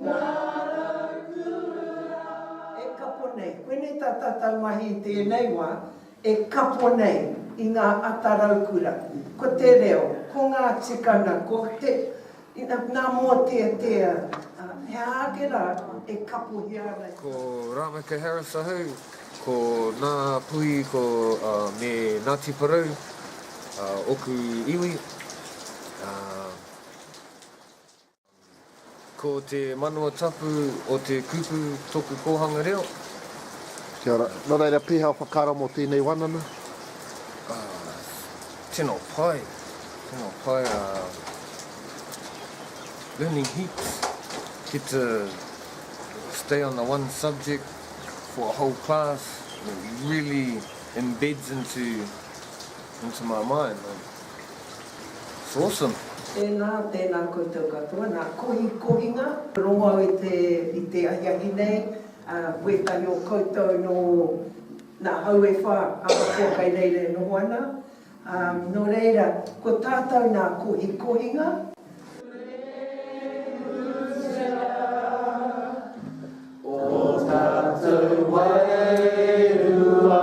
Ngā rau kura. E kapo nei. Koinei tā tātau mahi i tēnei wā, e kapo nei i ngā ata raukura. Ko te reo, ko ngā tikana, ko te, nā mōteatea, he aha ake rā e kapohia ana ki. Ko Rameke Harris ahau, ko nā Puhi ko me Ngāti Porou oku iwi. Ko te manawa tapu o te kupu toku kohanga reo. Kia ora. No reira peha o whakaaro mo tenei wanana? Ah, tino pai, tino pai, ah, learning heaps, get to stay on the one subject for a whole class, it really embeds into into my mind, like. It's awesome. Tēnā, tēnā koutou katoa. Nā, kohi kohinga. Rongo au i te, i te ahiahi nei, ā, wētahi o koutou nō nā hau e whā ahakoa kai reira e noho ana, ā, nō reira, ko tātou nā kohi kohinga. Rehusa, o tātou wairua.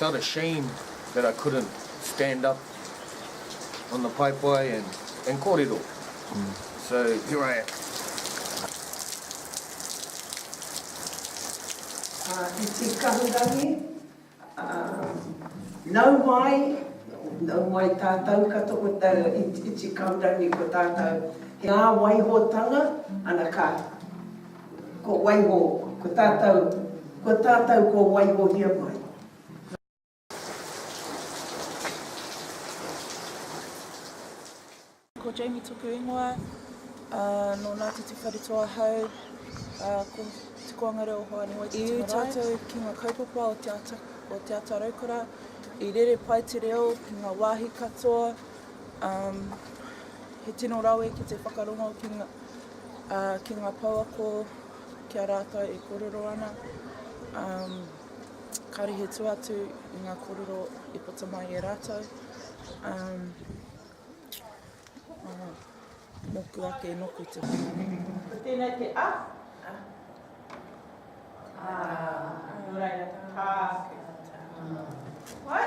Not ashamed that I couldn't stand up on the paepae and kōrero. So here I am. I te kahurangi, nau mai, nau mai tātou katoa ko te kahurangi ko tātou, he ngā waihotanga, ana ka. Ko waiho, ko tātou, ko tātou kua waihohia mai. Ko Jamie toku ingoa, no Ngātiti Whareto ahau, ko Te Koanga Reo Hoani Waititi Marae. I tātou ki ngā kaupapa o Te Ata, o Te Ata Raukura, i rere pai te reo ki ngā wāhi katoa, he tino rawe ki te whakarongo ki ngā, ā, ki ngā pouako ki a rātou e kōrero ana, ā, kāre he tua atu i ngā kōrero i puta mai e rātou, ā, ā, mōku ake e noku te whenua. Tēnei te a, a, ā, nō reira, tā, tā, ā, ā. Wai?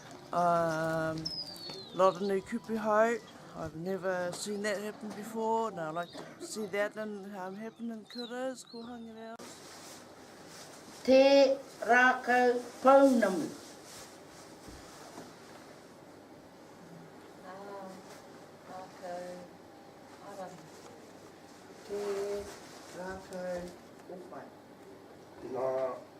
Um, lot of new kupu hau. I've never seen that happen before, and I like to see that and um, happen in kuras, ko Hangereo. Te Rakau Pounamu. Te Rakau Pounamu.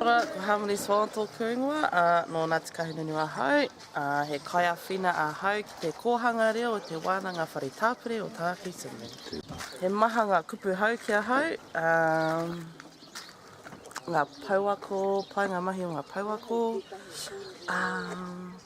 Ora, ko Harmony Swan tōku ingoa, ā, nō Ngāti Kahungunu ahau. Ā, he kaiāwhina ahau ki te kōhanga reo o Te Wānanga Whare Tāpiri o Tāwhi Tunu. He maha ngā kupu hou ki ahau, ā, ngā pouako, pai ngā mahi o ngā pouako, ā,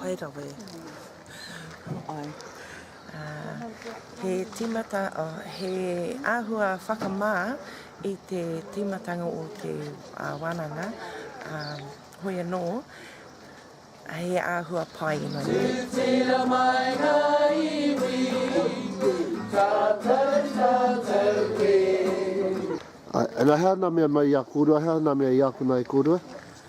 Pai rawa e. Ai. He tīmata, oh, he āhua whakamā i te tīmatanga o te uh, wānanga. Um, hoi anō, he āhua pai ino. Tūtira mai ngā iwi, ka tau, ka tau e. Ai, ana hea nā mea mai i a kōrua, hea nā mea i ākona e kōrua?